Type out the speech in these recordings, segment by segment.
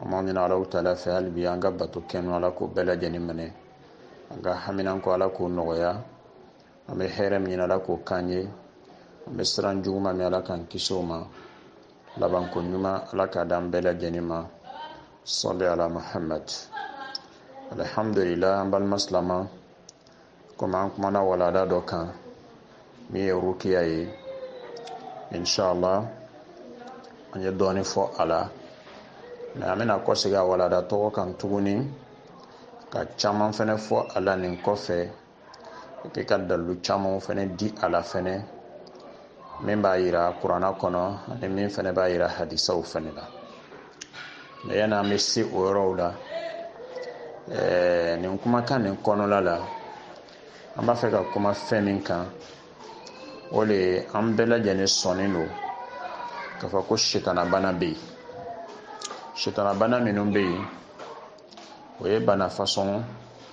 an b'a ɲini alahu taala fɛ hali bi an ka bato kɛlen ala k'o bɛɛ lajɛlen minɛ an ka haminanko ala k'o nɔgɔya an bɛ hɛrɛ min ɲini ala k'o k'an ye an bɛ siran juguma min ala k'an kisi o ma labanko ɲuman ala k'a d'an bɛɛ lajɛlen ma salli ala muhammad alhamdulillah an balima silama komi an kumana walanda dɔ kan min ye rukiya ye inshallah an ye dɔɔni fɔ a la mais an bɛna kɔsegin a walanda tɔgɔ kan tuguni ka caman fɛnɛ fɔ a la nin kɔfɛ epi ka dalilu camanw fɛnɛ di a la fɛnɛ min b'a yira kurana kɔnɔ ani min fɛnɛ b'a yira hadisaw fɛnɛ la mais yanni an bɛ se o yɔrɔw la ɛɛ nin kumakan nin kɔnɔla la an b'a fɛ ka kuma fɛn min kan o le ye an bɛɛ lajɛlen sɔnnen don k'a fɔ ko sitanabana bɛ yen sitanabana minnu bɛ yen o ye bana fasɔn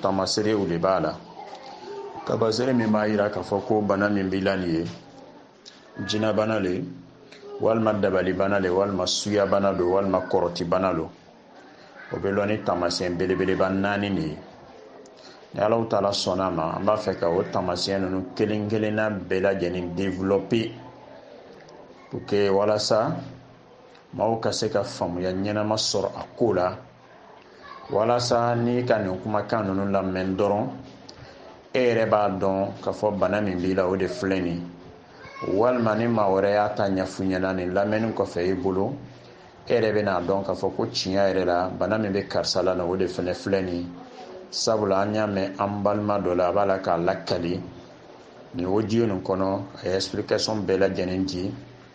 tamaserew de b'a la tamasere min b'a yira k'a fɔ ko bana min b'i la nin ye jinabana le walima dabalibana le walima suyabana lo walima kɔrɔtibana lo o bɛ lɔn ni taamasiyɛn belebeleba naani de ye ni alahu taala sɔnna a ma an b'a fɛ ka o taamasiyɛn ninnu kelen kelenna bɛɛ lajɛlen développer pour que walasa maaw ka se ka faamuya ɲɛnama sɔrɔ a ko la walasa n'i ka nin kumakan ninnu lamɛn dɔrɔn e yɛrɛ b'a dɔn k'a fɔ bana min b'i la o de filɛ nin walima ni maa wɛrɛ y'a ta ɲɛfɔ i ɲɛna nin lamɛnni kɔfɛ i bolo e yɛrɛ bɛna a dɔn k'a fɔ ko tiɲɛ yɛrɛ la bana min bɛ karisa la nin o de fɛnɛ filɛ nin sabula an y'a mɛn an balima dɔ la a b'a la k'a lakali nin audio nin kɔnɔ a ye explication bɛɛ lajɛlen di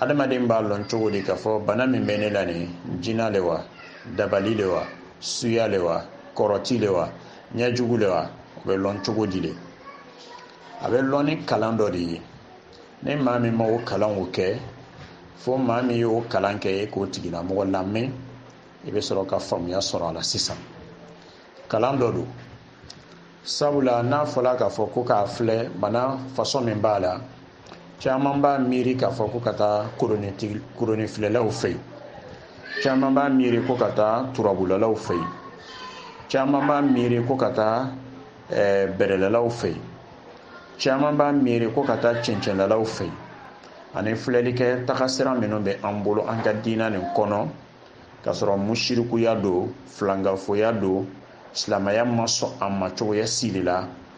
adamaden b'a lɔn cogo di k'a fɔ bana min bɛ ne la nin jina le wa dabali le wa suya le wa kɔrɔti le wa ɲɛjugu le wa o bɛ lɔn cogo di de a bɛ lɔn ni kalan dɔ de ye ni maa min ma o kalanw kɛ fo maa min y'o kalan kɛ e k'o tigilamɔgɔ lamɛn i bɛ sɔrɔ ka faamuya sɔrɔ a la sisan kalan dɔ don sabula n'a fɔla k'a fɔ ko k'a filɛ bana fasɔn min b'a la caman b'a miiri k'a fɔ ko ka taa koronifilɛlaw fɛ yen caman b'a miiri ko ka taa turabulalaw fɛ yen caman b'a miiri ko ka taa eh, bɛrɛlalaw fɛ yen caman b'a miiri ko ka taa cɛncɛnlalaw fɛ yen ani filɛlikɛ tagasira minnu bɛ an bolo an ka diina nin kɔnɔ k'a sɔrɔ musirikuya don filankafoya don silamɛya ma sɔn a ma cogoya sili la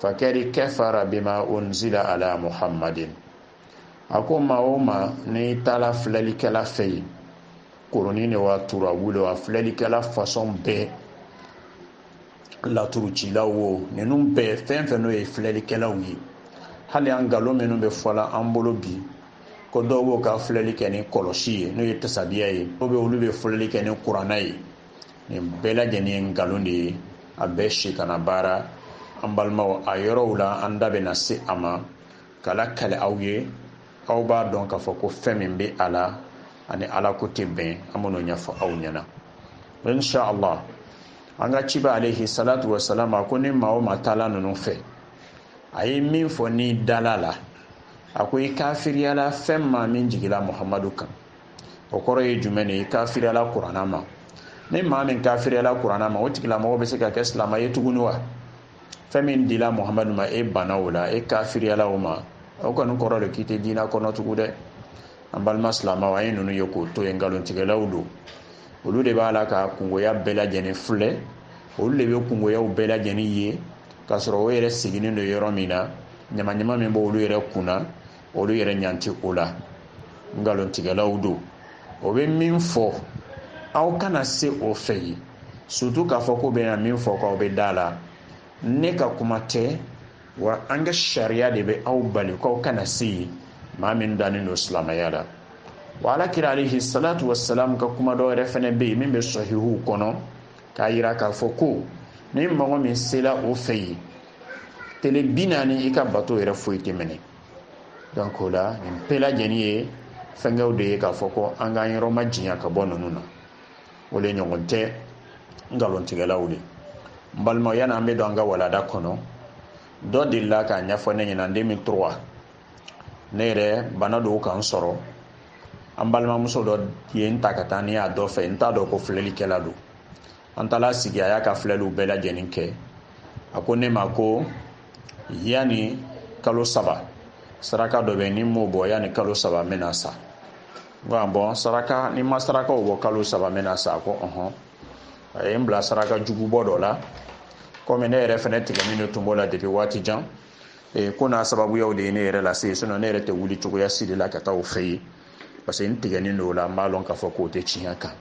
fakadi kafara bima unzila ala muhammadin a ko maa o maa n'i taala filɛlikɛla fɛ yen koroni de wa turabu de wa filɛlikɛla fasɔn bɛɛ laturucilaw o ninnu bɛɛ fɛn fɛn n'o ye filɛlikɛlaw ye hali an nkalon minnu bɛ fɔ la an bolo bi ko dɔw b'o ka filɛli kɛ ni kɔlɔsi ye n'o ye tasabiya ye dɔw bɛ olu bɛ filɛli kɛ ni kuranna ye nin bɛɛ lajɛlen ye nkalon de ye a bɛɛ sitana baara an balimaw a yɔrɔw la an da bɛna se a ma k'a lakale aw ye aw b'a dɔn k'a fɔ ko fɛn min bɛ a la ani ala ko tɛ bɛn an b'o ɲɛfɔ aw ɲɛna insha allah an ka ciba alehi salatu wa salam a ko ni maa o maa taala ninnu fɛ a ye min fɔ n'i dala a la a ko i kafiriyala fɛn ma min jigila muhamadu kan o kɔrɔ ye jumɛn ye i kafiriyala kuranna ma ni maa min kafiriyala kuranna ma o tigilamɔgɔ bɛ se ka kɛ silama ye tuguni wa fɛn min dila muhamadu ma e banna o la e kafiriyala o ma o kɔni kɔrɔ de k'i tɛ diina kɔnɔ tugu dɛ an balima silamaw an ye ninnu ye k'o to yen nkalontigɛlaw don olu de b'a la ka kungoya bɛɛ lajɛlen filɛ olu de bɛ kungoyaw bɛɛ lajɛlen ye k'a sɔrɔ o yɛrɛ sigilen don yɔrɔ min na ɲamaɲama min b'olu yɛrɛ kun na olu yɛrɛ ɲa tɛ o la nkalontigɛlaw don o bɛ min fɔ aw kana se o fɛ yen surtout k'a fɔ k'o bɛna min fɔ k'aw bɛ da a la ne ka kuma tɛ wa an ka sariya de bɛ aw bali k'aw kana se yen maa min dannen don silamɛya la wa ala kira alehi salatu wasalam ka kuma dɔ yɛrɛ fana bɛ yen min bɛ sahihuw kɔnɔ k'a yira k'a fɔ ko ni mɔgɔ min sela o fɛ yen tele bi naani i ka bato yɛrɛ foyi tɛ minɛ donc o la nin bɛɛ lajɛlen ye fɛnkɛw de ye k'a fɔ ko an k'an yɔrɔmajanya ka bɔ ninnu na o le ɲɔgɔn tɛ nkalontigɛlaw de n balima yani an bɛ don an ka walanda kɔnɔ dɔ delila k'a ɲɛfɔ ne ɲɛna deux mille trois ne yɛrɛ bana dɔw ka n sɔrɔ an balimamuso dɔ ye n ta ka taa ni n ye dɔ fɛ n t'a dɔn ko filɛlikɛla don an taala sigi a y'a ka filɛliw bɛɛ lajɛlen kɛ a ko ne ma ko yanni kalo saba saraka dɔ bɛ ni n m'o bɔ yanni kalo saba n bɛna sa n ko ah bon saraka ni n ma sarakaw bɔ kalo saba n bɛna sa a ko ɔhɔn a ye n bila saraka jugubɔ dɔ la komi ne yɛrɛ fɛnɛ tigɛnin de tun b'o la depuis waati jan e, ko n'a sababuyaw de ye ne yɛrɛ lase sinon ne yɛrɛ tɛ wuli cogoya si de la ka taa o fɛ yen parce que n tigɛnin don o la n b'a lɔn k'a fɔ k'o tɛ tiɲɛ kan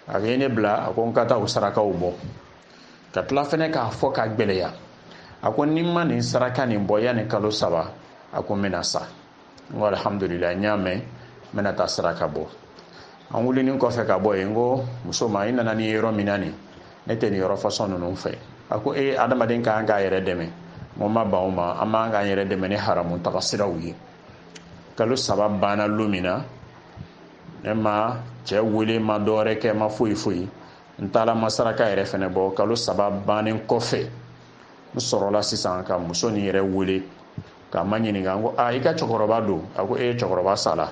a ye ne bila a ko n ka taa o sarakaw bɔ ka tila fɛnɛ k'a fɔ ka gwɛlɛya a ko ni n ma nin saraka nin bɔ yanni kalo saba a ko n bɛna sa n ko alihamudulila n y'a mɛn n bɛna taa saraka bɔ an wulinin kɔfɛ ka bɔ yen n ko muso ma i nana ni n ye yɔrɔ min na nin ne tɛ nin yɔrɔ fasɔn ninnu fɛ a ko e adamaden ka kan k'a yɛrɛ dɛmɛ n ko n ma ban o ma an man kan k'an yɛrɛ dɛmɛ ni haramu taga siraw ye kalo saba banna lon min na ne ma cɛ wele n ma dɔwɛrɛ kɛ n ma foyi foyi n taala n ma saraka yɛrɛ fɛnɛ bɔ kalo saba bannen kɔfɛ n sɔrɔla sisan ka muso nin yɛrɛ wele k'a maɲininka n ko a i ka cɛkɔrɔba don a ko e cɛkɔrɔba sala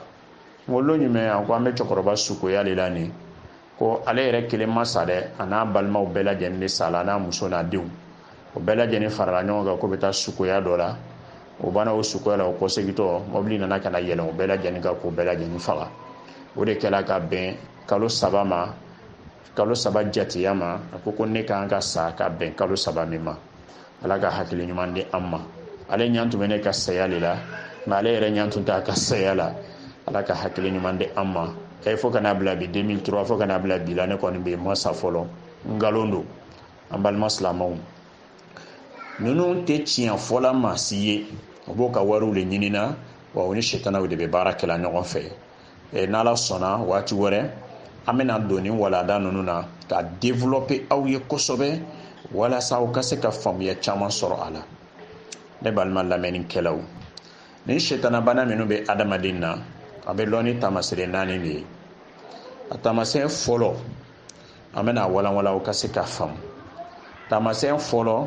n ko lon jumɛn a ko an bɛ cɛkɔrɔba sukoya le la nin ko ale yɛrɛ kelen ma sa dɛ a n'a balimaw bɛɛ lajɛlen le sala n'a muso n'a denw o bɛɛ lajɛlen farala ɲɔgɔn kan k'o bɛ taa sukoya dɔ la o banna o sukoya la o kɔsegitɔ mɔbili nana ka na yɛlɛn o bɛɛ lajɛlen kan k'o bɛɛ lajɛlen faga o de kɛla ka bɛn kalo saba ma kalo saba jateya ma a ko ko ne ka kan ka sa ka bɛn kalo saba min ma ala ka hakili ɲuman di an ma ale ɲan tun bɛ ne ka saya de la nka ale yɛrɛ ɲan tun t'a ka saya la ala ka hakili ɲuman di an ma e fo ka n'a bila bi 2003 fo ka n'a bila bi la ne kɔni bɛ n ma sa fɔlɔ nkalon don an balima silamɛw ninnu tɛ tiɲɛ fɔla maa si ye o b'o ka wariw de ɲinina wa o ni sitanaw de bɛ baara kɛla ɲɔgɔn fɛ eh, n'ala sɔnna waati wɛrɛ an bɛna don nin walanda ninnu na k'a développer aw ye kosɛbɛ walasa aw ka se ka faamuya caman sɔrɔ a la ne balima lamɛnnikɛlaw nin setanabana minnu bɛ adamaden na a bɛ lɔn ni taamasere naani de ye a taamasɛn fɔlɔ an bɛn'a walanwalan aw ka se k'a faamu taamasɛn fɔlɔ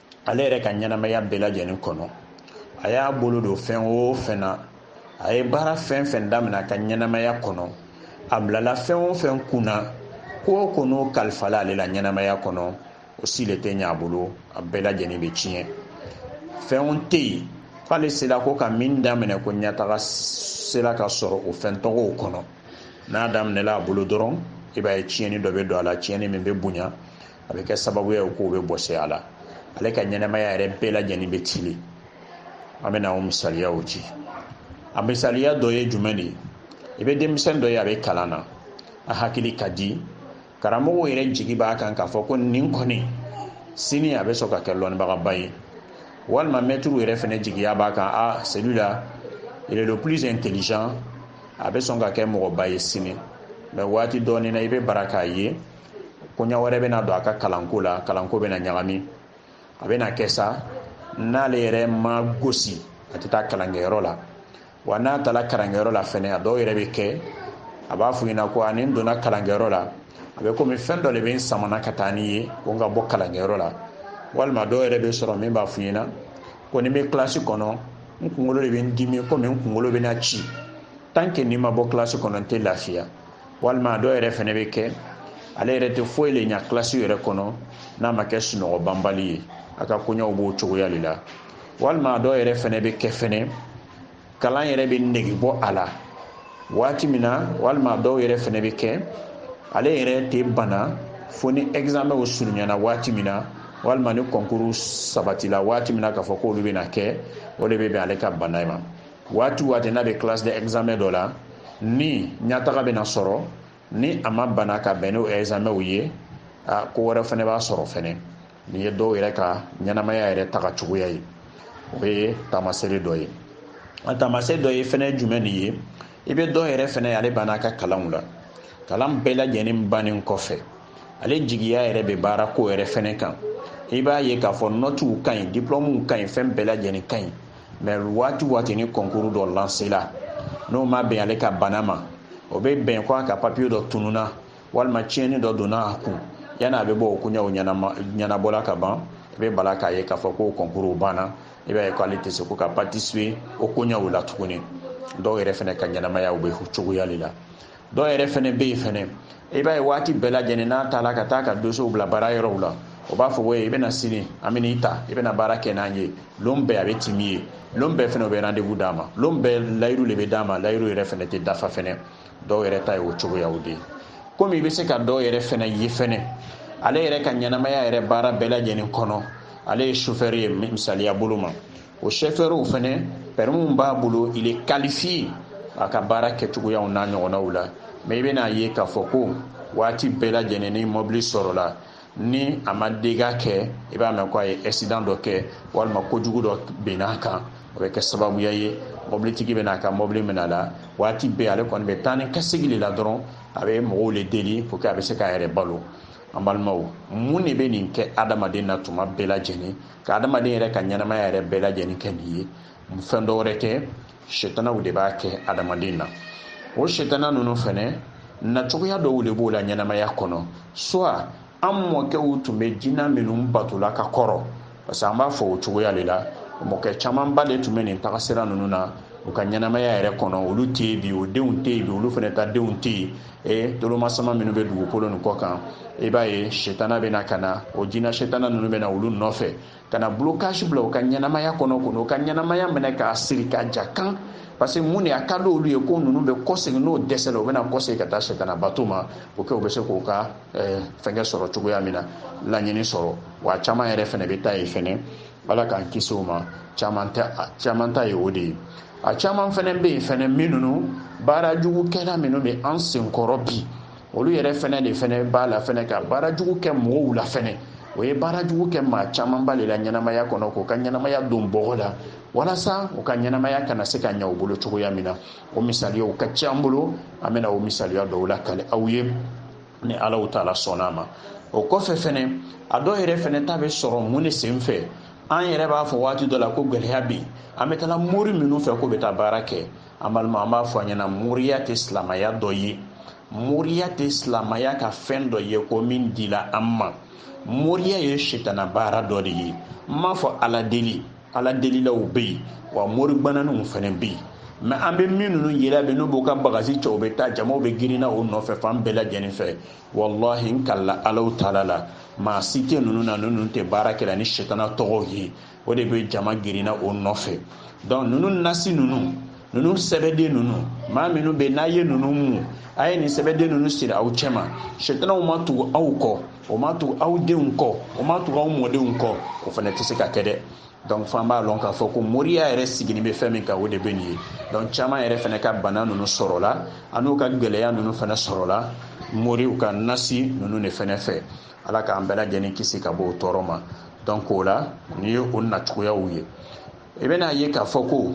ale yɛrɛ ka ɲɛnamaya bɛɛ lajɛlen kɔnɔ a y'a bolo don fɛn o fɛn na a ye baara fɛn fɛn daminɛ a ka ɲɛnamaya kɔnɔ a bilala fɛn o fɛn kunna ko o ko n'o kalifala ale la ɲɛnamaya kɔnɔ o si le tɛ ɲɛ a bolo a bɛɛ lajɛlen bɛ tiɲɛ fɛnw tɛ yen k'ale sera ko ka min daminɛ ko ɲɛtaga sera ka sɔrɔ o fɛn tɔgɔw kɔnɔ n'a daminɛla a bolo dɔrɔn i b'a ye tiɲɛni dɔ bɛ don a la tiɲɛni min bɛ bonya a bɛ kɛ sababuya ye k'o bɛɛ bɔsi a la ale ka ɲɛnamaya yɛrɛ bɛɛ lajɛlen bɛ tiɲɛ an bɛna o misaliyaw ci a misaliya dɔ ye jumɛn de ye i bɛ denmisɛn dɔ ye a bɛ kalan na a hakili ka di karamɔgɔw yɛrɛ jigi b'a kan k'a fɔ ko nin kɔni sini a bɛ sɔn ka kɛ lɔnnibagaba ye walima mɛtiriw yɛrɛ fɛnɛ jigiya b'a kan a celui-là il est le plus intelligent a bɛ sɔn ka kɛ mɔgɔba ye sini mais waati dɔɔnin na i bɛ bara k'a ye koɲa wɛrɛ bɛna don a ka kalanko la kalanko bɛna ɲagami a bɛna kɛ sa n'ale yɛrɛ ma gosi a tɛ taa kalankɛyɔrɔ la wa n'a taara kalankɛyɔrɔ la fɛnɛ a dɔw yɛrɛ bɛ kɛ a b'a f'u ɲɛna ko a ni n donna kalankɛyɔrɔ la a bɛ komi fɛn dɔ de bɛ n samana ka taa ni ye ko n ka bɔ kalankɛyɔrɔ la walima dɔw yɛrɛ bɛ sɔrɔ min b'a f'u ɲɛna ko ni n bɛ kilasi kɔnɔ n kunkolo de bɛ n dimi komi n kunkolo bɛna ci tant que ni n ma bɔ kilasi kɔnɔ n tɛ lafiya walima dɔ yɛrɛ fɛnɛ bɛ kɛ ale yɛrɛ tɛ foyi le ɲa kilasi yɛrɛ kɔnɔ n'a ma kɛ sunɔgɔ banbali ye a ka koɲɛw b'o cogoya le la walima dɔ yɛrɛ fɛnɛ bɛ kɛ fɛnɛ kalan yɛrɛ bɛ nege bɔ a la waati min na walima dɔw yɛrɛ fɛnɛ bɛ kɛ ale yɛrɛ tɛ bana fo ni ɛgizamɛnw surunyana waati min na walima ni kɔnkuru sabatila waati min na k'a fɔ k'olu bɛna kɛ o de bɛ bɛn ale ka bana in ma waati waati n'a bɛ classe de examen dɔ la ni ɲataga bɛna sɔrɔ ni a ma bana ka bɛn n'o examenw ye a ko wɛrɛ fɛnɛ b'a sɔrɔ fɛnɛ nin ye dɔw yɛrɛ ka ɲɛnamaya yɛrɛ taga cogoya ye o ye taamasere dɔ ye a taamasere dɔ ye fɛnɛ jumɛn nin ye i bɛ dɔw yɛrɛ fɛnɛ ale banna a ka kalanw la kalan bɛɛ lajɛlen bannen kɔfɛ ale jigiya yɛrɛ bɛ baarako yɛrɛ fɛnɛ kan i b'a ye k'a fɔ nɔtiw ka ɲi diplɔmuw ka ɲi fɛn bɛɛ lajɛlen ka ɲi mɛ waati waati ni kɔnkuru dɔ lansela n'o ma bɛn ale ka bana ma o bɛ bɛn ko a ka papiye dɔ tununa walima tiɲɛni dɔ donna a kun yanni a bɛ bɔ o koɲɛw ɲɛnabɔla ka ban i bɛ bala k'a ye k'a fɔ ko kɔnkuru banna i b'a ye ko ale tɛ se ko ka patisipe o koɲɛw la tuguni dɔw yɛrɛ fɛnɛ ka ɲɛnamayaw b'o cogoya de la dɔw yɛrɛ fɛnɛ bɛ yen fɛnɛ i b'a ye waati bɛɛ lajɛlen n'a taala ka taa a ka dossierw bila baara yɔrɔw la o b'a fɔ ko i bɛ na sini an bɛn'i ta i bɛna baara kɛ n'an ye lon bɛɛ a bɛ timi yen lon bɛɛ fɛnɛ o bɛ rendez-vous d'a ma lon bɛɛ layiru le bɛ d'a ma layiru yɛrɛ fɛnɛ tɛ dafa fɛnɛ dɔw yɛrɛ ta ye o cogoyaw de ye komi i bɛ se ka dɔw yɛrɛ fɛnɛ ye fɛnɛ ale yɛrɛ ka ɲɛnamaya yɛrɛ baara bɛɛ lajɛlen kɔnɔ ale ye chauffeur ye misaliya bolo ma o sofɛri fɛnɛ pɛrɛmi b'a bolo il est qualifié a ka baara kɛcogoyaw n'a ɲɔgɔnnaw la mɛ i bɛn'a ye k'a fɔ ko waati bɛɛ lajɛlen ni mɔbili sɔrɔla ni a ma dégât kɛ i b'a mɛn ko a ye accident dɔ kɛ walima kojugu dɔ binn'a kan o bɛ kɛ sababuya ye mɔbilitigi bɛna a ka mɔbili minɛ a la waati bɛɛ ale kɔni bɛ taa ni ka segin de la dɔrɔn a bɛ mɔgɔw le deli pour que a bɛ se k'a yɛrɛ balo an balimaw mun de bɛ nin kɛ adamaden na tuma bɛɛ lajɛlen ka adamaden yɛrɛ ka ɲɛnamaya yɛrɛ bɛɛ lajɛlen kɛ nin ye fɛn dɔ wɛrɛ tɛ setanaw de b'a kɛ adamaden na o setana ninnu fɛnɛ nacogoya dɔw de b'o la ɲɛnamaya kɔnɔ soit an mɔkɛw tun bɛ jina minnu batola ka kɔrɔ parce que an b'a fɔ o cogoya de la mɔkɛ camanba de tun bɛ nin tagasira ninnu na u ka ɲɛnamaya yɛrɛ kɔnɔ olu tɛ yen bi o denw tɛ yen bi olu fana ka denw tɛ yen e tolomasama minnu bɛ dugukolo nin kɔ kan i b'a ye setana bɛna ka na o jina setana ninnu bɛna olu nɔfɛ ka na blocage bila u ka ɲɛnamaya kɔnɔ k'u ka ɲɛnamaya minɛ k'a siri ka ja kan parce que mun de a ka di olu ye ko ninnu bɛ kɔsegin n'u dɛsɛla u bɛna kɔsegin ka taa setana bato ma pour que u bɛ se k'u ka eh, fɛnkɛ sɔrɔ cogoya min na laɲini sɔrɔ wa caman yɛrɛ fɛnɛ bɛ taa yen fɛnɛ ala k'an kisi o ma caman ta ye o de ye a caman fɛnɛ bɛ yen fɛnɛ min ninnu baara jugu kɛla minnu bɛ an senkɔrɔ bi olu yɛrɛ fɛnɛ de fɛnɛ b'a la fɛnɛ ka baara jugu kɛ mɔgɔw la fɛnɛ o ye baara jugu kɛ maa camanba de la ɲɛnamaya kɔnɔ k'u ka ɲɛnamaya don bɔgɔ la walasa u ka ɲɛnamaya kana se ka ɲɛ u bolo cogoya min na o misaliyaw ka ca an bolo an bɛna o misaliya dɔw lakale aw ye ni alahu taala sɔnna a ma o kɔfɛ fɛnɛ a dɔw yɛrɛ fɛnɛ ta bɛ sɔrɔ mun de sen fɛ an yɛrɛ b'a fɔ waati dɔ la ko gɛlɛya bɛ yen an bɛ taa mori minnu fɛ k'u bɛ taa baara kɛ an balima an b'a fɔ a ɲɛna moriya tɛ silamaya dɔ ye moriya tɛ silamaya ka fɛn dɔ ye ko min dila an ma moriya ye sitana baara dɔ de ye n m'a fɔ ala deli ala delilaw bɛ yen wa moribananiw fana bɛ yen mais an bɛ min ninnu yela bi n'u b'u ka bagasi cɛ u bɛ taa jamaw bɛ girinna o nɔfɛ fan bɛɛ lajɛlen fɛ walahi n kalila alahu taala la maa si tɛ ninnu na ninnu tɛ baara kɛla ni sitana tɔgɔw ye o de bɛ jama girinna o nɔfɛ donc ninnu nasi ninnu ninnu sɛbɛden ninnu maa minnu bɛ n'a ye ninnu mu a ye nin sɛbɛden ninnu siri aw cɛma sitanaw ma tugu aw kɔ o ma tugu aw denw kɔ o ma tugu aw mɔdenw kɔ o fana tɛ se ka kɛ dɛ donc f'an b'a lɔn k'a fɔ ko moriya yɛrɛ sigini bɛ fɛn min kan o de bɛ nin ye donc caman yɛrɛ fana ka bana ninnu sɔrɔla an'u ka gɛlɛya ninnu fana sɔrɔla moriw ka nasi ninnu de fana fɛ ala k'an bɛɛ lajɛlen kisi ka bɔ o tɔɔrɔ ma donc o la nin ye o nacogoyaw ye i bɛn'a ye k'a fɔ ko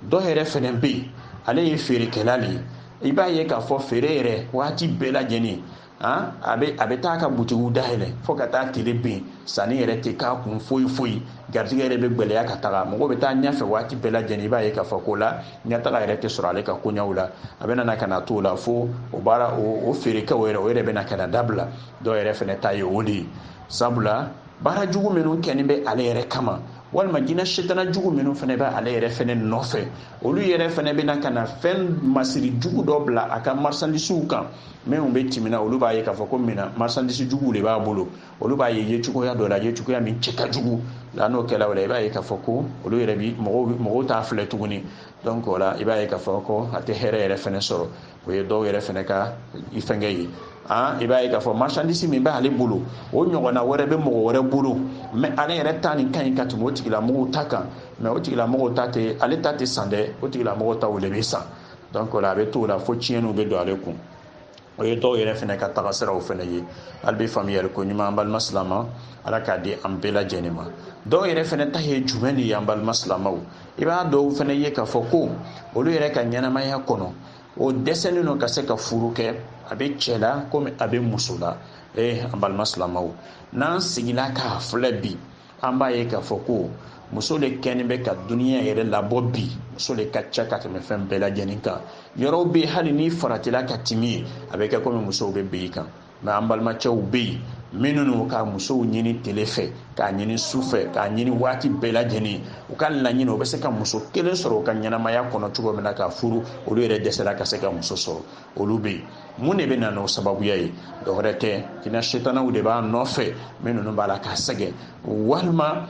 dɔ yɛrɛ fana bɛ yen ale ye feerekɛla de ye i b'a ye k'a fɔ feere yɛrɛ waati bɛɛ lajɛlen a bɛ a bɛ taa ka butigiw dayɛlɛ fo ka taa tile bin sanni yɛrɛ tɛ k'a kun foyi foyi garijɛgɛ yɛrɛ bɛ gɛlɛya ka taga mɔgɔ bɛ taa ɲɛfɛ waati bɛɛ lajɛlen i b'a ye k'a fɔ ko la ɲɛtaga yɛrɛ tɛ sɔrɔ ale ka koɲɛw la a bɛ na ka na to o la fo o baara o feerekɛw yɛrɛ o yɛrɛ bɛ na ka na dabila dɔw yɛrɛ fɛnɛ ta ye o de ye sabula baara jugu minnu kɛni bɛ ale yɛrɛ kama walima jinɛ setana jugu minnu fɛnɛ bɛ ale yɛrɛ fɛnɛ nɔfɛ olu yɛrɛ fɛnɛ bɛna ka na fɛn masiri jugu dɔ bila a ka marisandisiw kan minnu bɛ timina olu b'a ye k'a fɔ ko mina marsandisi juguw de b'a bolo olu b'a ye yecogoya dɔ la yecogoya min cɛ ka jugu la n'o kɛla o la i b'a ye k'a fɔ ko olu yɛrɛ bi mɔgɔw mɔgɔw t'a filɛ tuguni donc o la i b'a ye k'a fɔ ko a tɛ hɛrɛ yɛrɛ fɛnɛ sɔrɔ o ye dɔw yɛrɛ fɛnɛ ka fɛnkɛ ye an i b'a ye k'a fɔ marsandisi min b'ale bolo o ɲɔgɔnna wɛrɛ bɛ mɔgɔ wɛrɛ bolo mais ale yɛrɛ ta nin ka ɲi ka tɛmɛ o tigilamɔgɔw ta kan mais o tigilamɔgɔw ta tɛ ale ta tɛ san dɛ o tigilamɔgɔw ta o de bɛ san donc o la a bɛ t'o la fo tiɲɛniw bɛ don ale kun o ye dɔw yɛrɛ fɛnɛ ka taga siraw fɛnɛ ye hali bi faamuyali ko ɲuman an balima silama ala k'a di an bɛɛ lajɛlen ma dɔw yɛrɛ fɛnɛ ta ye jumɛn de ye an balima silamaw i b'a dɔw fɛnɛ ye k'a fɔ ko olu yɛrɛ ka ɲɛnamaya kɔnɔ o dɛsɛlen don ka se ka furu kɛ a bɛ cɛ la komi a bɛ muso la ee an balima silamaw n'an sigila k'a filɛ bi an b'a ye k'a fɔ ko muso le kɛni bɛ ka duniya yɛrɛ labɔ bi muso le ka ca ka tɛmɛ fɛn bɛɛ lajɛlen kan yɔrɔw bɛ hali n'i faratila ka timi yen a bɛ kɛ komi musow bɛ bin i kan mais an balimacɛw bɛ yen minnu ka musow ɲini tele fɛ k'a ɲini su fɛ k'a ɲini waati bɛɛ lajɛlen u ka laɲini o bɛ se ka muso kelen sɔrɔ u ka ɲɛnamaya kɔnɔ cogo min na k'a furu olu yɛrɛ dɛsɛla ka se ka muso sɔrɔ olu bɛ yen mun de bɛ na n'o sababuya ye dɔwɛrɛ tɛ jinɛ setanaw de b'a nɔfɛ min ninnu b'a la k'a sɛgɛn walima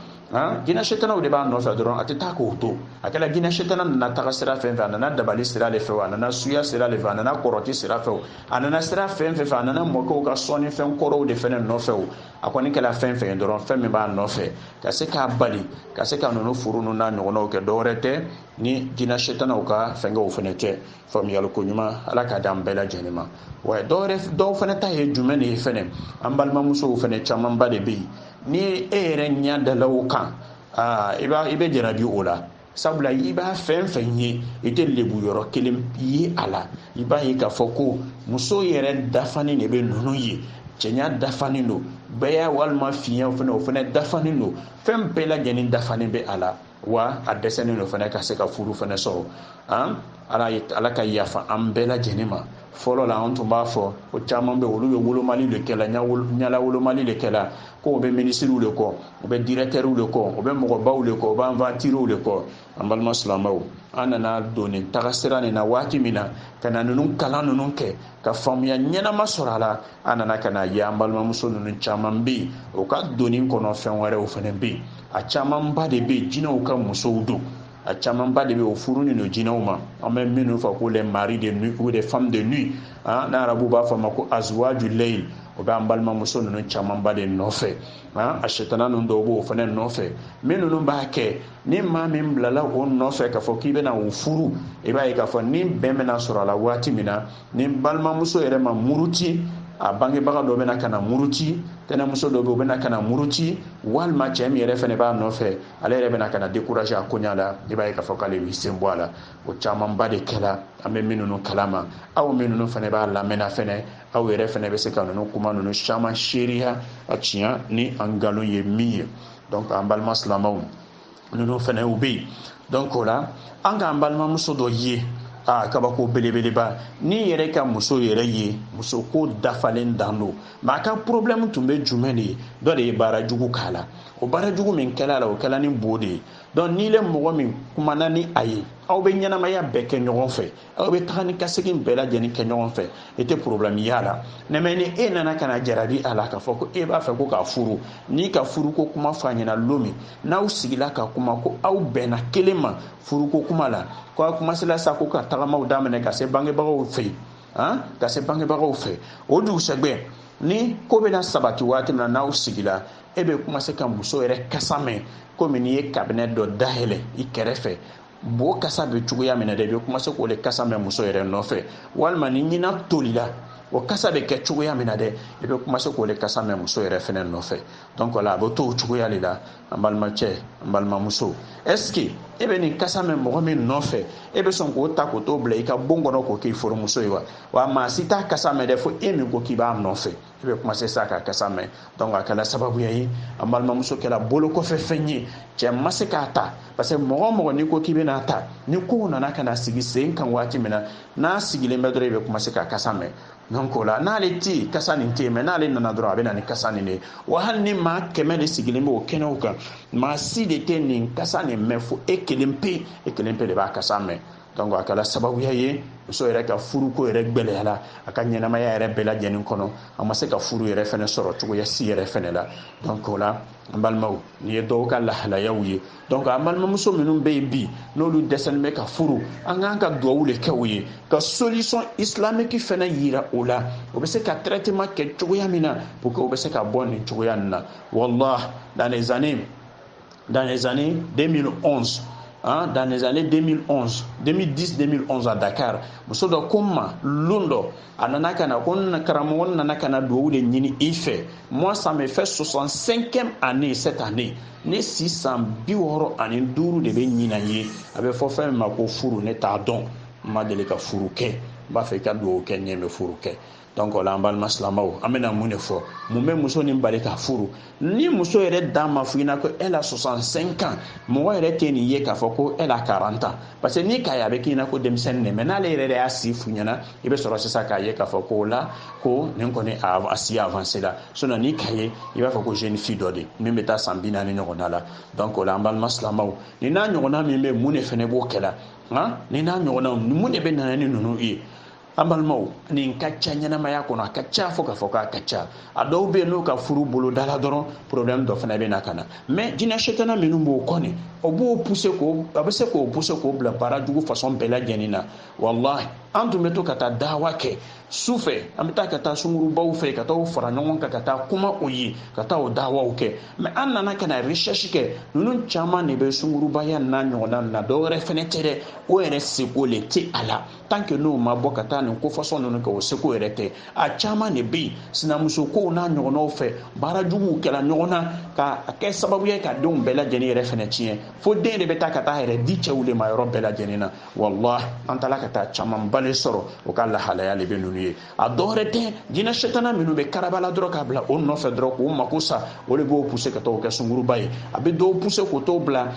jinɛ setanaw de b'a nɔfɛ dɔrɔn a tɛ taa k'o to a kɛla jinɛ setana nana taga sira fɛn fɛ a nana dabali sira de fɛ a nana suya sira de fɛ a nana kɔrɔti sira fɛ a nana sira fɛn fɛn fɛ a nana mɔkɛw ka sɔnni fɛn kɔrɔw de fɛnɛ nɔfɛ o a kɔni kɛla fɛn fɛn ye dɔrɔn fɛn min b'a nɔfɛ ka se k'a bali ka se ka ninnu furu ninnu n'a ɲɔgɔnnaw kɛ dɔwɛrɛ tɛ ni jinɛ setanaw ka fɛnkɛw fɛnɛ tɛ faamuyali ko ɲuman ala k'a d'an bɛɛ lajɛlen ma wa dɔw fɛnɛ ta ye jumɛn de ye fɛnɛ an balimamusow fɛnɛ camanba de bɛ yen ni e yɛrɛ ɲɛ dala o kan aa i b'a i bɛ jarabi o la sabula i b'a fɛn fɛn ye i tɛ lebu yɔrɔ kelen ye a la i b'a ye k'a fɔ ko muso yɛrɛ dafanen de bɛ ninnu ye cɛɲa dafanen don gbɛya walima finya fɛnɛ o fɛnɛ dafanen don fɛn bɛɛ lajɛlen dafanen bɛ a la wa a dɛsɛnen don fɛnɛ ka se ka furu fɛnɛ sɔrɔ an ala ye ala ka yafa an bɛɛ lajɛlen ma fɔlɔ la an tun b'a fɔ ko caman bɛ olu bɛ wolomali de kɛla ɲanawolomali de kɛla ko u bɛ minisiriw de kɔ u bɛ dirɛtɛriw de kɔ u bɛ mɔgɔbaw de kɔ u bɛ aventuriers de kɔ an balima silamɛw an nana don nin tagasira nin na waati min na ka na ninnu kalan ninnu kɛ ka faamuya ɲɛnama sɔrɔ a la an nana ka n'a ye an balimamuso ninnu caman bɛ yen u ka donni kɔnɔ fɛn wɛrɛw fɛnɛ bɛ yen a camanba de bɛ jinɛw ka musow don a camanba de bɛ o furunen don jinɛw ma an bɛ minnu fɔ ko les maris de nuit ou les femmes de nuit ah, n'arabu b'a fɔ a ma ko azwaju leyil o bɛ an balimamuso ninnu camanba de nɔfɛ ah, a sitana ninnu dɔw b'o fana nɔfɛ min ninnu b'a kɛ ni maa min bilala o nɔfɛ k'a fɔ k'i bɛna o furu i b'a ye k'a fɔ ni bɛn bɛna sɔrɔ a la waati min na ni balimamuso yɛrɛ ma muruti a bangebaga dɔ bɛna ka na muruti tɛnɛmuso dɔ bɛ u bɛna ka na muruti walima cɛ min yɛrɛ fɛnɛ b'a nɔfɛ ale yɛrɛ bɛna ka na décourager a koɲa la i b'a ye k'a fɔ k'ale b'i sen bɔ a la o camanba de kɛla an bɛ min ninnu kala ma aw min ninnu fɛnɛ b'a lamɛnna fɛnɛ aw yɛrɛ fɛnɛ bɛ se ka ninnu kuma ninnu caman seereya a tiɲa ni a nkalon ye min ye donc an balima silamaw ninnu fɛnɛ u bɛ yen donc o la an k'an balimamuso dɔ ye a kabako belebeleba ni yɛrɛ ka muso yɛrɛ ye muso ko dafalen dan don mais a ka problème tun bɛ jumɛn de ye dɔ de ye baara jugu k'a la o baara jugu min kɛla la o kɛla ni bo de ye donc n'i le mɔgɔ min kumana ni a ye aw bɛ ɲɛnamaya bɛɛ kɛ ɲɔgɔn fɛ aw bɛ taga ni ka segin bɛɛ lajɛlen kɛ ɲɔgɔn fɛ i tɛ problème y'a la mais mais ni e nana ka na jarabi a la k'a fɔ ko e b'a fɛ ko k'a furu n'i ka furuko kuma fɔ a ɲɛna lon min n'aw sigila ka kuma ko aw bɛnna kelen ma furuko kuma la ko aw commencé la sa ko ka tagamaw daminɛ ka se bangebagaw fɛ yen han ka se bangebagaw fɛ o dugusɛgbɛ ni ko bɛna sabati waati min na n'aw sigila e bɛ commencer ka muso yɛrɛ kasa mɛn komi n'i ye cabinet dɔ dayɛlɛ i kɛrɛfɛ bo kasa bɛ cogoya min na dɛ i bɛ commencer k'o le kasa mɛn muso yɛrɛ nɔfɛ walima ni ɲinan tolila o kasa bɛ kɛ cogoya min na dɛ i bɛ commencer k'o le kasa mɛn muso yɛrɛ fɛnɛ nɔfɛ donc la a bɛ to o cogoya de la an balimacɛ an balimamuso est ce que e bɛ nin kasa mɛn mɔgɔ min nɔfɛ e bɛ sɔn k'o ta k'o t'o bila i ka bon kɔnɔ k'o k'i furumuso ye wa wa maa si t'a kasa mɛn dɛ fo e min ko k'i b'a nɔfɛ i bɛ commencer sa k'a kasa mɛn donc a kɛla sababuya ye an balimamuso kɛla bolo kɔfɛ fɛn ye cɛ ma se k'a ta parce que mɔgɔ mɔgɔ n'i ko k'i bɛna ta ni kow nana ka na sigi sen kan waati min na n'a sigilen bɛ dɔrɔn i bɛ commencer k'a kasa mɛn donc o la n'ale tɛ yen kasa nin tɛ yen mais n'ale nana dɔrɔn a bɛ na ni kasa nin de ye wa hali ni maa kɛmɛ de sigilen bɛ o kɛnɛw kan maa si de tɛ nin kasa nin mɛn fo e kelen pe e kelen pe de b'a kasa mɛn donc a kɛla sababuya ye muso yɛrɛ ka furuko yɛrɛ gwɛlɛyala a ka ɲɛnamaya yɛrɛ bɛɛ lajɛlen kɔnɔ a ma se ka furu yɛrɛ fɛnɛ sɔrɔ cogoya si yɛrɛ fɛnɛ la donc o la an balimaw nin ye dɔw ka lahalayaw ye donc an balimamuso minnu bɛ yen bi n'olu dɛsɛlen bɛ ka furu an k'an ka duwawu le kɛ u ye ka solution islamique fɛnɛ yira o la o bɛ se ka traitement kɛ cogoya min na pour que o bɛ se ka bɔ nin cogoya nin na wallah dans les années dans les années 2011 hein, dans les années 2011 2010 2011 à Dakar muso dɔ ko n ma lon dɔ a nana ka na ko karamɔgɔ n nana ka na duwawu de ɲini i fɛ moi ça me fait 65e année cette année ne si san bi wɔɔrɔ ani duuru de bɛ ɲina ye a bɛ fɔ fɛn min ma ko furu ne t'a dɔn n ma deli ka furu kɛ n b'a fɛ i ka duwawu kɛ n ye n bɛ furu kɛ donc o la an balima silamaw an bɛna mun de fɔ mun bɛ muso nin bali ka furu ni muso yɛrɛ dan m'a fɔ i ɲɛna ko elle a 65 ans mɔgɔ yɛrɛ tɛ nin ye k'a fɔ ko elle a 40 ans parce que n'i k'a ye a bɛ k'i ɲɛna ko denmisɛnnin de mais n'ale yɛrɛ de y'a si f'i ɲɛna i bɛ sɔrɔ sisan k'a ye k'a fɔ ko o la ko nin kɔni a si avancé la sinon n'i k'a ye i b'a fɔ ko jeune fille dɔ de min bɛ taa san bi naani ɲɔgɔnna la donc o la an balima silamaw nin n'a ɲɔgɔnna min bɛ yen mun de fɛnɛ b'o kɛla nka nin n'a ɲɔgɔnnaw mun de bɛ na ni ninnu ye an balimaw nin ka ca ɲɛnamaya kɔnɔ a ka ca fo k'a fɔ k'a ka ca a dɔw bɛ yen n'o ka furu bolo dala dɔrɔn problème dɔ fana bɛ na ka na mais jinɛ setana minnu b'o kɔ nin o b'o pousser k'o a bɛ se k'o pousser k'o bila baara jugu façon bɛɛ lajɛlen na walahi an tun bɛ to ka taa dawa kɛ su fɛ an bɛ taa ka taa sungurubaw fɛ ka taa fara ɲɔgɔn kan ka taa kuma o ye ka taa o dawaw kɛ mais an nana ka na recherche kɛ ninnu caman de bɛ sungurubaya n'a ɲɔgɔnna na dɔwɛrɛ fana tɛ dɛ o yɛrɛ seko le tɛ a la tant que n'o ma bɔ ka taa nin ko façon ninnu kɛ o seko yɛrɛ tɛ a caman de bɛ yen sinamuso kow n'a ɲɔgɔnnaw fɛ baara juguw kɛla ɲɔgɔn na ka a kɛ sababu ye ka denw bɛɛ lajɛlen yɛrɛ fɛnɛ tiɲɛ fo den de bɛ taa ka taa yɛrɛ di cɛw de ma yɔrɔ bɛɛ lajɛlen na walahi an taara ka taa camanba le sɔrɔ o ka lahalaya le bɛ ninnu ye a dɔwɛrɛ tɛ jinɛ setana minnu bɛ karabala dɔrɔn k'a bila o nɔfɛ dɔrɔn k'o mako sa o de b'o pousser ka taa o kɛ sunguruba ye a bɛ dɔw pousser k'o t'o bila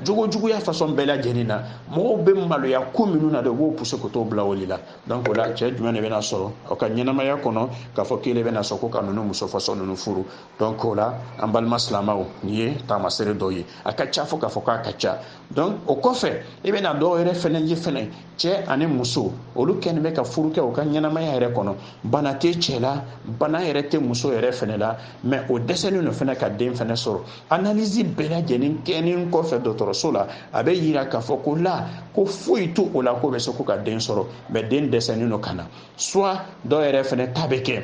jogojuguya façon bɛɛ lajɛlen na mɔgɔw bɛ maloya ko minnu na de o b'o pousser k'o t'o bila o de la donc o la cɛ jumɛn de bɛna sɔrɔ o ka ɲɛnamaya kɔnɔ k'a fɔ k'e le bɛna sɔn ko ka nunu muso façon nunu furu donc o la an balima silamaw nin ye taamasere dɔ ye a ka ca fo k'a fɔ k'a ka ca donc o kɔfɛ i bɛna dɔw yɛrɛ fɛnɛ ye fɛnɛ cɛ ani muso olu kɛlen bɛ ka furu kɛ u ka ɲɛnamaya yɛrɛ kɔnɔ bana tɛ cɛ la bana yɛrɛ tɛ muso yɛrɛ fɛnɛ la mais o dɛsɛlen don fɛnɛ ka den fɛnɛ sɔrɔ analyse bɛɛ lajɛlen kɛnen kɔfɛ dɔgɔtɔrɔso la a bɛ yira k'a fɔ ko la ko foyi t'o la k'o bɛ se k'o ka den sɔrɔ mais den dɛsɛlen don ka na soit dɔw yɛrɛ fɛnɛ ta bɛ kɛ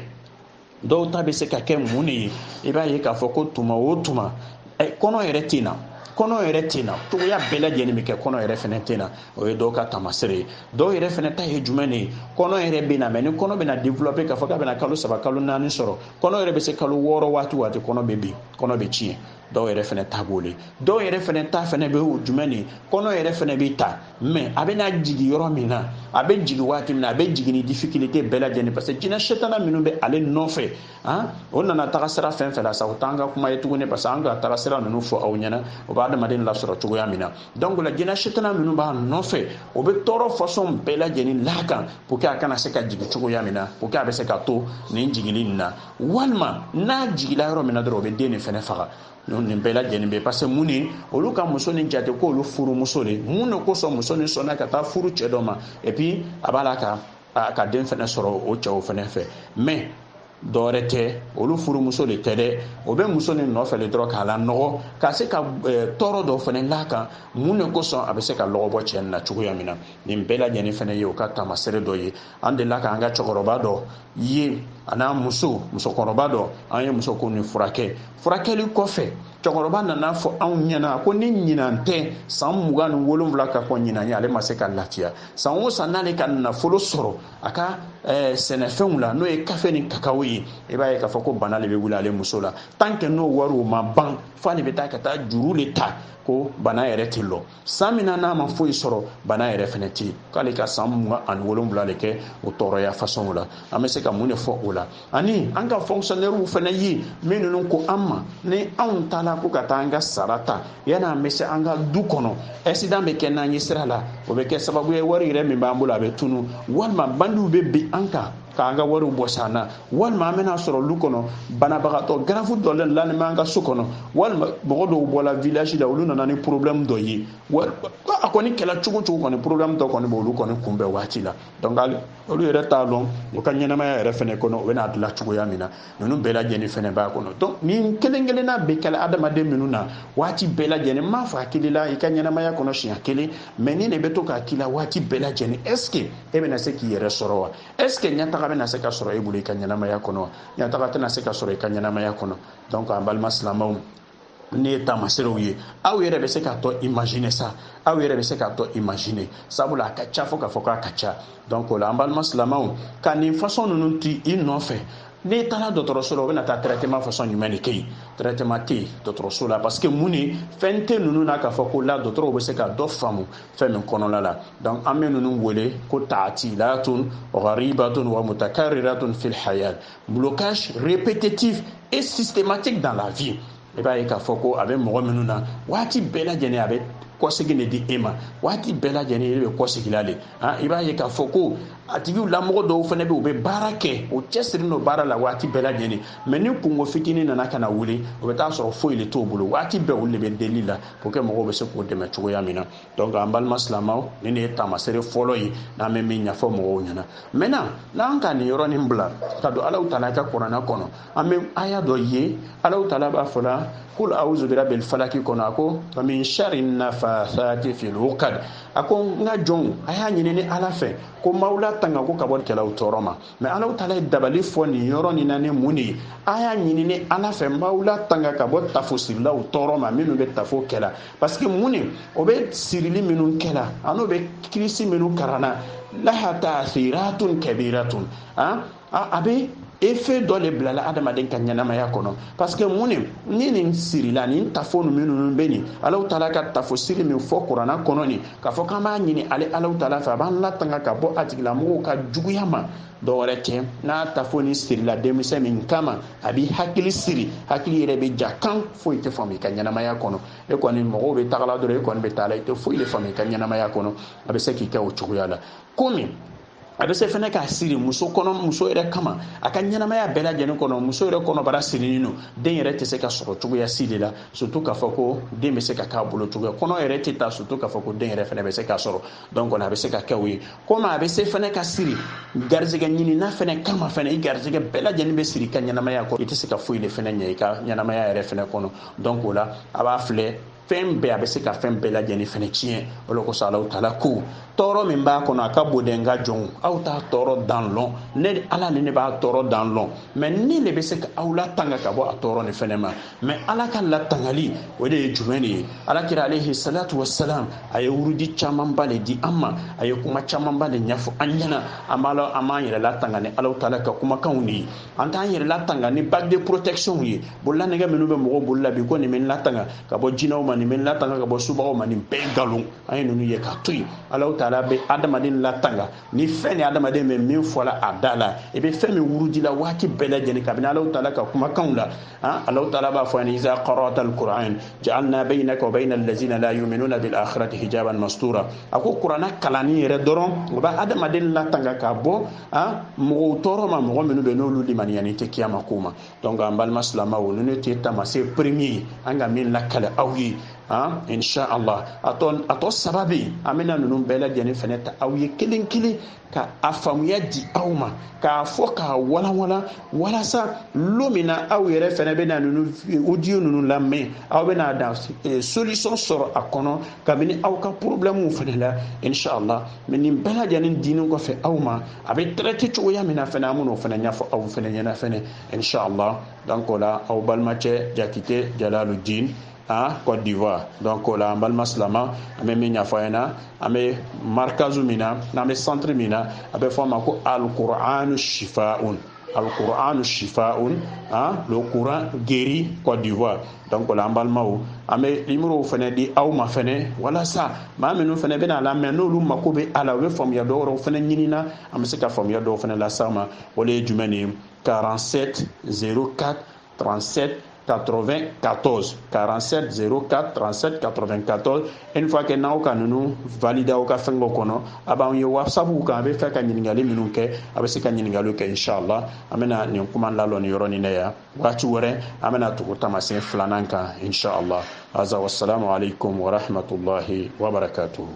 dɔw ta bɛ se ka kɛ mun de ye i b'a ye k'a fɔ ko tuma o tuma kɔnɔ yɛrɛ tɛ na kɔnɔ yɛrɛ tɛ na cogoya bɛɛ lajɛlen bɛ kɛ kɔnɔ yɛrɛ fɛnɛ tɛ na o ye dɔw ka taamasere ye dɔw yɛrɛ fɛnɛ ta ye jumɛn de ye kɔnɔ yɛrɛ bɛ na mais ni kɔnɔ bɛna développer k'a fɔ k'a bɛna kalo saba kalo naani sɔrɔ kɔnɔ yɛrɛ bɛ se kalo wɔɔrɔ waati waati kɔnɔ bɛ bin kɔnɔ bɛ tiɲɛ dɔw yɛrɛ fɛnɛ ta b'o le dɔw yɛrɛ fɛnɛ ta fɛnɛ bɛ o jumɛn de kɔnɔ yɛrɛ fɛnɛ bɛ ta mais a bɛ na jigin yɔrɔ min na a bɛ jigin waati min na a bɛ jigin ni difficulté bɛɛ lajɛlen parce que jinɛ setana minnu bɛ ale nɔfɛ han o nana taga sira fɛn fɛn la sa o t'an ka kuma ye tuguni parce que an ka taga sira ninnu fɔ aw ɲɛna o bɛ adamaden lasɔrɔ cogoya min na donc la jinɛ setana minnu b'a nɔfɛ o bɛ tɔɔrɔ façon bɛɛ lajɛlen l'a kan pour que a kana se ka jigin cogoya min na pour que a bɛ se ka to nin jigili nin na walima n'a jigila yɔrɔ min na dɔrɔn o bɛ den nin fɛnɛ faga nin bɛɛ lajɛlen bɛ parce que mun ni olu ka muso nin jate ko olu furumuso de mun de kosɔn muso nin sɔnna ka taa furu cɛ dɔ ma et puis a b'a la ka a ka den fɛnɛ sɔrɔ o cɛw fɛnɛ fɛ mais dɔwɛrɛ tɛ olu furumuso de tɛ dɛ o bɛ muso nin nɔfɛ le dɔrɔn k'a lanɔgɔ ka se ka eh, tɔɔrɔ dɔ fana l'a kan mun de kosɔn a bɛ se ka lɔgɔ bɔ cɛ nin na cogoya min na nin bɛɛ lajɛlen fana ye o ka taamasere dɔ ye an delila k'an ka cɛkɔrɔba dɔ ye a n'a muso musokɔrɔba dɔ an ye muso ko nin furakɛ furakɛli kɔfɛ cɛkɔrɔba nana fɔ anw ɲɛna ko ni ɲinan tɛ san mugan ni wolonwula ka kɔn ɲinan ye ale ma se ka lafiya san o san n'ale ka nafolo sɔrɔ a ka eh, sɛnɛfɛnw la n'o ye kafe ni kakawo ye i b'a ye k'a fɔ ko bana le bɛ wuli ale muso la tant que n'o wariw ma ban fo ale bɛ taa ka taa juru le ta ko bana yɛrɛ tɛ lɔ san min na n'a ma foyi sɔrɔ bana yɛrɛ fɛnɛ tɛ k'ale ka san mugan ani wolonwula de kɛ o tɔɔrɔya fasɔnw la an bɛ se ka mun de fɔ o la ani an ka fonctionnaires fɛnɛ ye min ninnu ko an ma ni anw taara ko ka taa an ka sara ta yanni an bɛ se an ka du kɔnɔ accident bɛ kɛ n'an ye sira la o bɛ kɛ sababu ye wari yɛrɛ min b'an bolo a bɛ tunu walima bandiw bɛ bin an kan k'an ka wariw bɔs'an na walima an bɛna sɔrɔ lu kɔnɔ banabagatɔ grave dɔ lalen b'an ka so kɔnɔ walima mɔgɔ dɔw bɔla village la olu nana ni problème dɔ ye a kɔni kɛla cogo cogo kɔni problème dɔ kɔni b'olu kɔni kunbɛn waati la donc olu yɛrɛ t'a lɔn u ka ɲɛnamaya yɛrɛ fɛnɛ kɔnɔ u bɛn'a dilan cogoya min na ninnu bɛɛ lajɛlen fɛnɛ b'a kɔnɔ donc nin kelen kelenna bɛ kɛla adamaden minnu na waati bɛɛ lajɛlen m'a fɔ a kɛl'i la i ka ɲɛnamaya kɔnɔ siɲɛ kelen mais ni de bɛ to ka k'i la waati bɛɛ lajɛlen est ce que e bɛna se k'i yɛrɛ sɔrɔ wa est ce que ɲɛtaga bɛna se ka sɔrɔ e bolo i ka ɲɛnamaya kɔnɔ wa ɲɛtaga tɛna se ka sɔrɔ i ka ɲɛnamaya kɔnɔ donc an balima silamɛw nin ye taamaserew ye aw yɛrɛ bɛ se k'a tɔ imaginer sa aw yɛrɛ bɛ se k'a tɔ imaginer sabula a ka ca fo k'a fɔ k'a ka ca donc o la an balima silamɛw ka nin fasɔn ninnu t'i nɔfɛ n'i taara dɔgɔtɔrɔso la o bɛna taa traitement façon jumɛn de kɛ yen traitement tɛ yen dɔgɔtɔrɔso la parce que mun de fɛn tɛ ninnu na k'a fɔ ko la dɔgɔtɔrɔw bɛ se ka dɔ faamu fɛn min kɔnɔna la donc an bɛ ninnu wele ko taatilatun gharibatun wa mutakarriratun fil hayat Blocage répétitif et systématique dans la vie. i b'a ye k'a fɔ ko a bɛ mɔgɔ minnu na waati bɛɛ lajɛlen a bɛ kɔsegin de di e ma waati bɛɛ lajɛlen e bɛ kɔsegila de han i b'a ye k'a fɔ ko a tigilamɔgɔ dɔw fana bɛ u bɛ baara kɛ u cɛsirilen don baara la waati bɛɛ lajɛlen mais ni kunko fitinin nana ka na wuli o bɛ taa sɔrɔ foyi de t'o bolo waati bɛɛ olu de bɛ delili la pour que mɔgɔw bɛ se k'u dɛmɛ cogoya min na donc an balima silamaw nin ne ye taamasere fɔlɔ ye n'an bɛ min ɲɛfɔ mɔgɔw ɲɛna maintenant n'an ka nin yɔrɔnin bila ka don Alahu Taala ka kurana kɔnɔ an bɛ aya dɔ ye Alahu Taala b'a fɔla kul auzu birabil falaki kɔnɔ a ko wa min shari nafathati fil uqad a ko n ka jɔnw a y'a ɲini ne ala fɛ ko n b'aw latanga ko ka bɔ kɛlaw tɔɔrɔ ma mais Alahu Taala ye dabali fɔ nin yɔrɔ nin na ni mun de ye a y'a ɲini ne ala fɛ n b'aw latanga ka bɔ tafosirilaw tɔɔrɔ ma minnu bɛ tafo kɛla parce que mun de o bɛ sirili minnu kɛla an'o bɛ kirisi minnu karana laha taasiratun kabiratun a a bɛ effet dɔ le bilala adamaden ka ɲɛnamaya kɔnɔ parce que mun de ni nin sirila nin tafo ninnu bɛ nin Alahu Taala ka tafo siri min fɔ kurana kɔnɔ nin k'a fɔ k'an b'a ɲini ale Alahu Taala fɛ a b'an latanga ka bɔ a tigilamɔgɔw ka juguya ma dɔwɛrɛ tɛ n'a tafo nin sirila denmisɛn min kama a b'i hakili siri hakili yɛrɛ bɛ ja kan foyi tɛ faamu i ka ɲɛnamaya kɔnɔ e kɔni mɔgɔw bɛ tagala dɔrɔn e kɔni bɛ taala i tɛ foyi de faamu i ka ɲɛnamaya kɔnɔ a bɛ se k'i kɛ o cogoya la komi a bɛ se fɛnɛ ka siri muso kɔnɔ muso yɛrɛ kama a ka ɲɛnamaya bɛɛ lajɛlen kɔnɔ muso yɛrɛ kɔnɔbara sirinin don den yɛrɛ tɛ se ka sɔrɔ cogoya si de la surtout k'a fɔ ko den bɛ se ka k'a bolo cogoya kɔnɔ yɛrɛ tɛ ta surtout k'a fɔ ko den yɛrɛ fɛnɛ bɛ se ka sɔrɔ donc kɔni a bɛ se ka kɛ o ye komi a bɛ se fɛnɛ ka siri garizigɛ ɲinina fɛnɛ kama fɛnɛ i garizigɛ bɛɛ lajɛlen bɛ siri i ka ɲɛnamaya kɔnɔ i tɛ se ka foyi de fɛnɛ ɲɛ i ka ɲɛnamaya yɛrɛ fɛnɛ kɔnɔ donc o la a b'a filɛ fɛn bɛɛ a bɛ se ka fɛn bɛɛ lajɛlen fɛnɛ tiɲɛ o de kosɔn alahu taala ko tɔɔrɔ min b'a kɔnɔ a ka bon dɛ n ka jɔnw aw t'a tɔɔrɔ dan lɔn ne ala ni ne b'a tɔɔrɔ dan lɔn mais ne de bɛ se ka aw latanga ka bɔ a tɔɔrɔ nin fɛnɛ ma mais ala ka latangali o de ye jumɛn de ye ala kira alayhi salatu wasalam a ye wurudi camanba le di an ma a ye kuma camanba le ɲɛfɔ an ɲɛna an b'a lɔn an b'an yɛrɛ latanga ni alahu taala ka kumakanw de ye an t'an yɛrɛ latanga ni bague de protection ye bololanɛgɛ minnu bɛ mɔgɔw bolo la bi ko nin bɛ n latanga ka bɔ jinɛw ma nin bɛ n latanga ka bɔ subagaw ma nin bɛɛ nkalon an ye ninnu ye k'a to yen alahu taala bɛ adamaden latanga ni fɛn ni adamaden bɛ min fɔla a da la i bɛ fɛn min wurudi la waati bɛɛ lajɛlen kabini alahu taala ka kumakanw la han alahu taala b'a fɔ ani iza qara'ata alquran ja'alna bainaka wa baina allazina la yu'minuna bil akhirati hijaban mastura a ko kurana kalanni yɛrɛ dɔrɔn o bɛ adamaden latanga ka bɔ a mɔgɔw tɔɔrɔ ma mɔgɔ minnu bɛ n'olu limaniyanin tɛ kiyama ko ma donc an balima silamaw ninnu tɛ tamasen premier an ka min lakale aw ye an insha allah a tɔ a tɔ saba bɛ yen an bɛna ninnu bɛɛ lajɛlen fɛnɛ ta aw ye kelen kelen ka a faamuya di aw ma k'a fɔ k'a walanwalan walasa lo min na aw yɛrɛ fɛnɛ bɛna ninnu audio ninnu lamɛn aw bɛna da solution sɔrɔ a kɔnɔ kabini aw ka problème fɛnɛ la insha allah mais nin bɛɛ lajɛlen dinin kɔfɛ aw ma a bɛ traiter cogoya min na fɛnɛ an bɛn'o fɛnɛ ɲɛfɔ aw fɛnɛ ɲɛna fɛnɛ inshallah donc o la aw balimacɛ jakite jalaludin côte d'ivoire donc o la an balima silama an bɛ min ɲɛfɔ aw ɲɛna an bɛ markazu min na n'an bɛ centre min na a bɛ fɔ a ma ko alqur'anu shifaun alqur'anu shifaun hein, le coran guérit Côte d'Ivoire donc o la an balimaw an bɛ nimorow fɛnɛ di aw ma fɛnɛ walasa maa minnu fɛnɛ bɛn'a lamɛn n'olu mako bɛ a la u bɛ faamuya dɔ wɛrɛw fɛnɛ ɲinina an bɛ se ka faamuya dɔw fɛnɛ las'aw ma o le ye jumɛn de ye 47 04 37 94 47 04 37 94 une fois que n'aw ka ninnu valider aw ka fɛngɛ kɔnɔ aw b'an ye whatsapp kan aw b'a fɛ ka ɲininkali minnu kɛ aw bɛ se ka ɲininkaliw kɛ inshallah an bɛna nin kuma lalɔ nin yɔrɔnin na yan waati wɛrɛ an bɛna tugu tamasen filanan kan inshallah aza wassalamu alaikum warahmatullahi wabarakatuhu